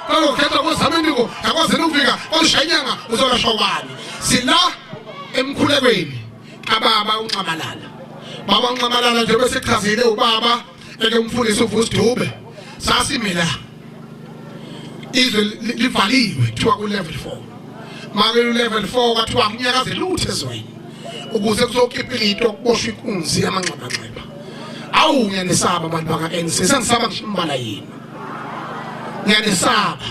Kangokhetha kwezamenduko ngakwazela ukufika kwashanyanga uzolasha ubani. Sila emkhulekweni kababa unxamalala. Baba unxamalala njengoba sechazile ubaba eke umfundisi uvusi Dube. Sasimila izwe livaliwe kuthiwa ku level 4 make u level 4 kwathiwa kunyakaze lutho ezweni ukuze kuzokhipha into kuboshwa inkunzi yamanxeba nxeba awu ngiyanisaba abantu baka NC sengisaba ngisho imbala yini ngiyanisaba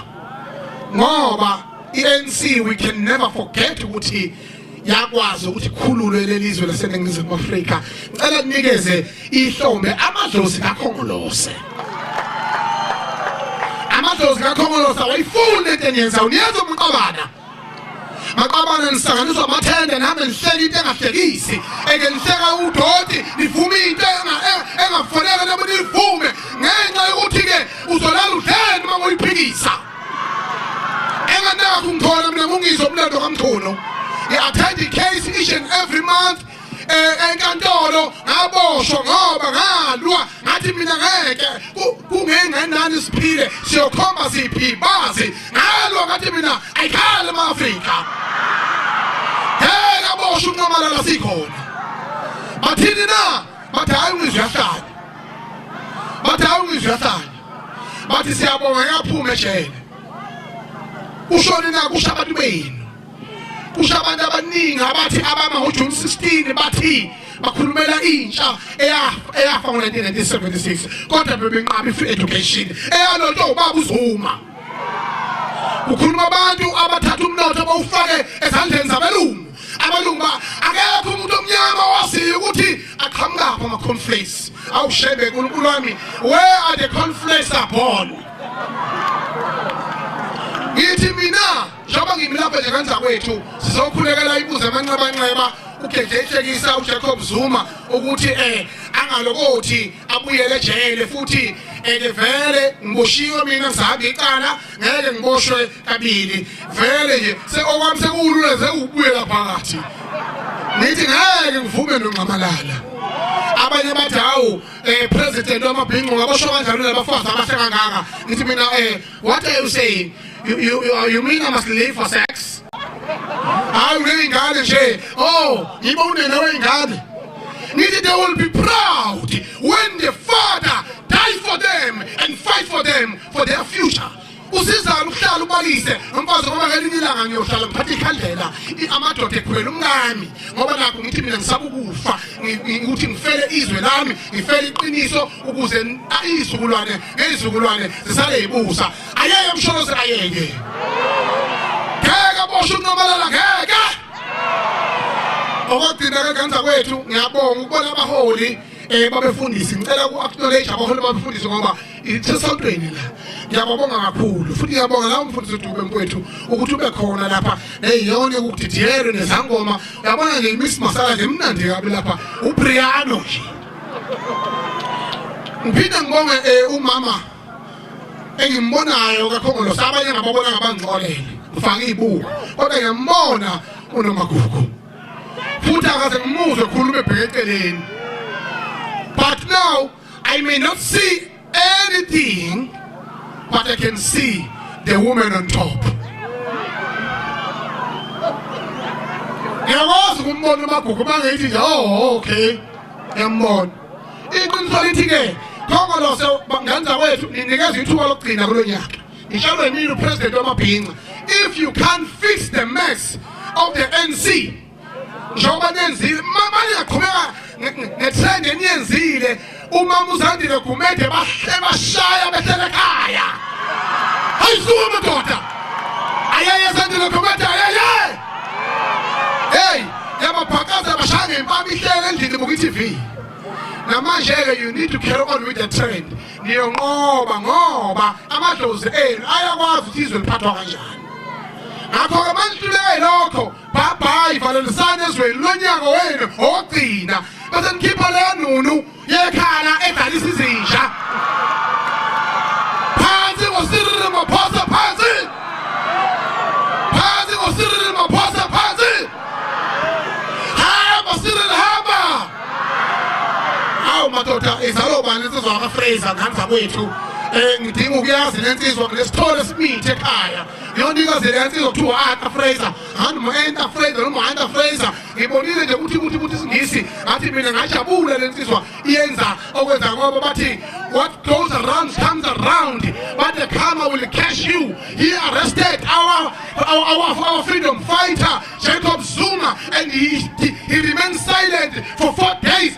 ngoba i-ANC we can never forget ukuthi yakwazi ukuthi khululwe lelizwe laseningizimu Afrika ngicela ninikeze ihlombe amadlozi kakhongolose amadlozi kakhongolose awayifuni into enyenza uyenza umqabana maqabane nihlanganiswa amathende nihambe nihleka into engahlekisi eke nihleka udoti nivume into engafanele noma nivume ngenxa yokuthi-ke uzolala udleni uma ngoyiphikisa enganakho ngithole mina mungizo umlando kamthono i-attend i-case each and every month eh, enkantolo ngaboshwa ngoba ngalwa ngathi mina ngeke kungengenani siphile siyokhomba siphi bazi ngalwa ngathi mina ayikhale ema-afrika ngeke aboshwa unqamalala sikhona bathini na bathi hayi ungizwe yahlanya bathi hayi ungizwe yahlanya bathi siyabonga yaphume ejele ushoni na kusho abantu benu kusho abantu abaningi abathi abama ngoJuni 16 bathi bakhulumela intsha eyafa ngo-1976 kodwa bebenqaba i-free education eyalotshwa ubaba uzuma ukhuluma abantu abathatha umnotho bawufake ezandleni zabelungu abelungu ba akekho umuntu omnyama owaziyo ukuthi aqhamukaphi ama-conflace awushebe nkulunkulu wami where are the conflace are born ngithi mina njengoba ngimi lapha nje kanjakwethu sizokhulekela ibuze emanxebanxeba ugeje ihlekisa ujacob zuma ukuthi um angalokothi abuyele ejele futhi and vele ngiboshiwe mina ngisahambe iqala ngeke ngiboshwe kabili vele nje seokwami sekulula zewubuyela phakathi nithi ngeke ngivume nongxamalala abanye bathi hawu um president wamabhinqo ngabosho kanjalo labafazi abahle kangaka ngithi mina um What are you saying? You, you, you, you mean I must live for sex? Hayi uneyingane nje. Oh, yiba unene weyingane. Nithi they will be proud when the father die for them and fight for them for their future. usizana ukuhlala ubalise nomfazi ngoba ngelinye ilanga ngiyohlala ngiphathe ikhandlela amadoda ekhwela umkami ngoba nakho ngithi mina ngisaba ukufa ukuthi ngifele izwe lami ngifele iqiniso ukuze izizukulwane ngezizukulwane zisale yibusa ayeke emsholozi ayeke ngeke bosho uNomalala ngeke okugcina ke kanza kwethu ngiyabonga ukubona abaholi eh babefundisi ngicela ku acknowledge abaholi babefundisi ngoba isesontweni la ngiyababonga kakhulu futhi ngiyabonga lawo mfundisi uDube mkwethu ukuthi ube khona lapha neyiyona ukudidiyelwe nezangoma uyabona nje imiss masala nje mnandi kabi lapha uPriano nje Ngiphinde ngibonge eh, umama engimbonayo kakhongolo sabanye ngababona ngabangxolele ufake ibuka kodwa ngiyambona unomagugu futhi akaze ngimuzwe khuluma ebheke eceleni but now i may not see anything but I can see the woman on top. Ngiyakwazi ukumbona umagugu bangayithi nje oh okay ngiyambona. Iqiniso lithi ke Khongolose bangenza kwethu ninikeza ithuba lokugcina kulo nyaka. Ngishalo yimini upresident wamabhinca. If you can't fix the mess of the NC njengoba nenzile maningaqhubeka ngetrend eniyenzile umama uzandile gumede bahle bashaya behlele ekhaya hayi suka madoda ayeye zandile gumede ayeye hey yababhakaza bashaya ngempama ihlele endlini buka i-tv namanje-ke you need to carry on with the trend niyonqoba ngoba amadlozi enu ayakwazi ukuthi izwe liphathwa kanjani ngakho-ke manihluleyo lokho bhabhayi valelisani ezweni lonyaka wenu ogcina bese nikhipha leyo nunu yekhala edlalisa izinja phansi ngosiriri maphosa phansi phansi ngosiriri maphosa phansi hamba siriri hamba awu madoda izalobani insizwa kafraser ngani zakwethu um ngidinga ukuyazi le nsizwa nginesithole esimithe ekhaya Leyo nto ikozele yansizwa kuthiwa u-Arthur Fraser. Handi mu-Enter Fraser noma u-Hunter Fraser. Ngibonile nje ukuthi ukuthi ukuthi isingisi ngathi mina ngajabula le nsizwa iyenza okwenza ngoba bathi what goes around comes around but the karma will catch you he arrested our our, our, our freedom fighter Jacob Zuma and he, he, he remained silent for four days